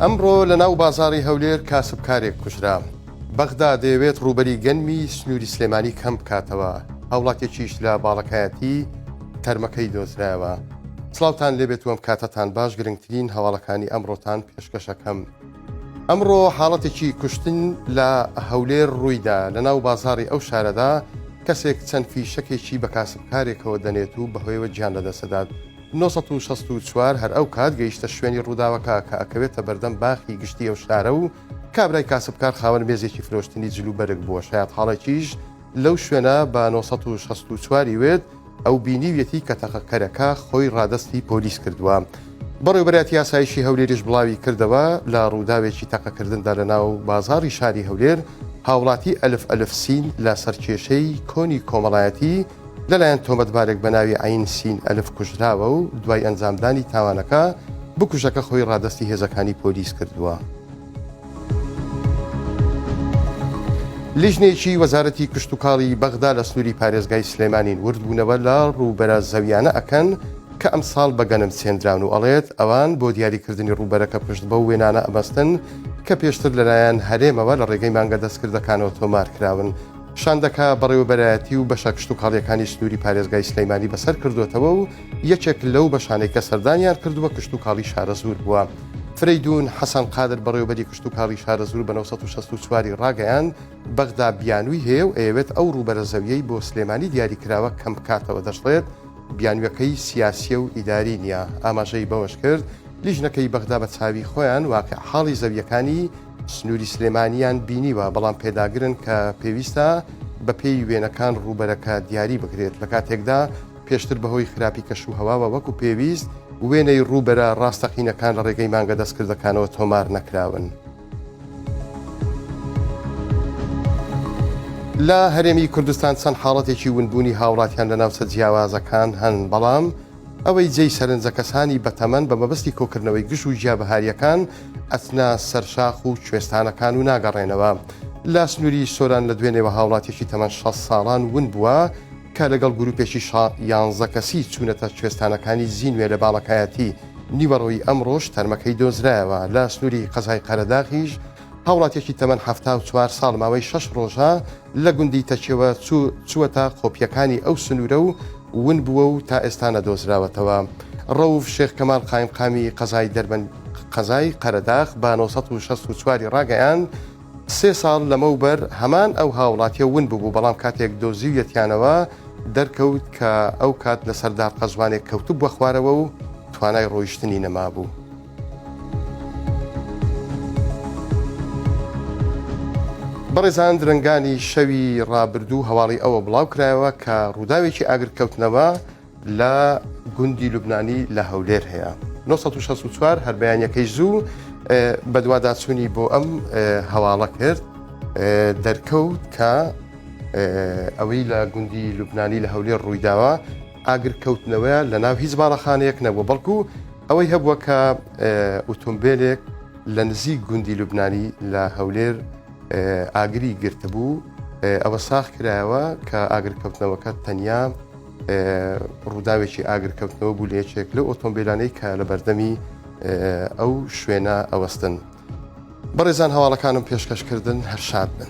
ئەمڕۆ لە ناو بازاری هەولێر کاسب کارێک کوژرا. بەغدا دەیەوێت ڕووبەری گەنمی سنووری سلێمانی کەم بکاتەوە، هاوڵاتێکیش لە باڵەکایەتی تەرمەکەی دۆزرایەوە. سڵاوتان لێبێت و ئەم کاتەتان باش گرنگترین هەواڵەکانی ئەمڕۆتان پێشکەشەکەم. ئەمڕۆ حاڵەتێکی کوشتن لە هەولێر روویدا، لەناو بازاڕی ئەو شارەدا کەسێک چەند فیشەکێکی بە کاسبکارێکەوە دەنێت و بەهۆیەوە گیان لەدەستدەدات، نۆ سەد و شەست و چوار هەر ئەو کات گەیشتە شوێنی رووداوەکە کە ئەکەوێتە بەردەم باخی گشتی ئەو شارە و کابرای کاسبکار خاوەن مێزێکی فرۆشتنی جل و بەرگ بووە شایەتحاڵێکیش لەو شوێنە بە نۆ سەد و شەست و چوار ی وت ئەو بینیویەتی کە تەقەکەرەکە خۆی ڕادەستی پۆلیس کردووە. بەڕێوبەرایەتی ئاسایشی هەولێریش بڵاوی کردەوە، لە ڕووداوێکی تەقەکردندا لە ناو بازاڕی شاری هەولێر، هاوڵاتی ئەلف ئەلف سین لە سەر کێشەی کۆنی کۆمەڵایەتی لەلایەن تۆمەتبارێک بە ناوی عەین سین ئەلف کوژراوە و دوای ئەنجامدانی تاوانەکە، بکوژەکە خۆی ڕادەستی هێزەکانی پۆلیس کردووە. لیژنەیەکی وەزارەتی کشتوکاڵی بەغدا لە سنووری پارێزگای سلێمانین وردبوونەوە لە ڕووبەرە زەویانە ئەکەن کە ئەمساڵ بە گەنم سێنراون و ئەڵێت ئەوان بۆ دیاریکردنی ڕووبەرەکە پشت بەو وێنانە ئەبەستن کە پێشتر لەلایەن هەرێمەوە لە ڕێگەی مانگە دەستکردەکانەوە تۆمارکراون شاندەکە بەڕێوەبەرایەتی و بەشە کشتوکاڵییەکانی سنووری پارێزگای سلێمانی بەسەر کردووەتەوە و یەکێک لەو بەشانەی کە سەردانیان کردووە کشتوکاڵی شارەزوور بووە. فرەیدوون حەسەن قادر بەڕێوەبەری کشتوکاڵی شارەزوور بە نۆ سەد و شەست و چوار ی ڕاگەیاند، بەغدا بیانووی هەیە و ئەیەوێت ئەو ڕووبەرە زەوییەی بۆ سلێمانی دیاریکراوە کەم بکاتەوە دەشڵێت، بیانوویەکەی سیاسییە و ئیداری نییە. ئاماژەی بەوەشکرد، لیژنەکەی بەغدا بە چاوی خۆیان واقیعحاڵی زەوییەکانی، سنووری سلێمانییان بینیوە، بەڵام پێداگرن کە پێویستە بەپێی وێنەکان ڕووبەرەکە دیاری بکرێت، لە کاتێکدا پێشتر بەهۆی خراپی کەشوهەواوە وەکو پێویست وێنەی ڕووبەرە ڕاستەقینەکان لە ڕێگەی مانگە دەستکردەکانەوە تۆمار نەکراون. لە هەرێمی کوردستان چەند حاڵەتێکی ونبوونی هاوڵاتیان لە ناوچە جیاوازەکان هەن، بەڵام ئەوەی جێی سەرنجە کەسانی بەتەمەن بە مەبەستی کۆکردنەوەی گژ و گیابەهارییەکان ئەچنە سەر شاخ و کوێستانەکان و ناگەڕێنەوە. لە سنووری سۆران لە دوێنێوە هاوڵاتیەکی تەمەن شەست ساڵان ون بووە کە لەگەڵ گروپێکی شا یانزە کەسی چوونەتە کوێستانەکانی زینوێ لە باڵەکایەتی نیوەڕۆی ئەمڕۆش تەرمەکەی دۆزرایەوە لە سنووری قەزای قەرەداغیش هاوڵاتیەکی تەمەن حەفتا و چوار ساڵ ماوەی شەش ڕۆژە لە گوندی تەکیەوە چوو چووەتە قۆپییەکانی ئەو سنوورە و ون بووە و تا ئێستا نەدۆزراوەتەوە. ڕەوف شێخ کەمال قایمقامی قەزای دەربەند قەزای قەرەداخ بە نۆ سەد و شەست و چوار ی ڕاگەیاند، سێ ساڵ لەمەوبەر هەمان ئەو هاوڵاتییە ون ببوو، بەڵام کاتێک دۆزیویەتیانەوە دەرکەوت کە ئەو کات لەسەر دار قەزوانێک کەوتبووە خوارەوە و توانای ڕۆیشتنی نەمابوو. بەڕێزان درەنگانی شەوی ڕابردوو هەواڵی ئەوە بڵاو کرایەوە کە ڕووداوێکی ئاگرکەوتنەوە لە گوندی لوبنانی لە هەولێر هەیە 1964 هەر بەیانەکەی زوو بەدواداچوونی بۆ ئەم هەواڵە کرد دەرکەوت کە ئەوەی لە گوندی لوبنانی لە هەولێر ڕوویداوە ئاگر کەوتنەوەیان لە ناو هیچ باڵەخانەیەک نەبووە بەڵکو ئەوەی هەبووە کە ئۆتۆمبیلێک لە نزیک گوندی لوبنانی لە هەولێر ئاگری گرتبوو ئەوە ساخ کرایەوە کە ئاگرکەوتنەوەکە تەنیا ڕووداوێکی ئاگرکەوتنەوە بوو لە یەکێک لە ئۆتۆمبیلانەی کە لە بەردەمی ئەو شوێنە ئەوەستن. بەڕێزان هەواڵەکانم پێشکەش کردن هەر شاد بن.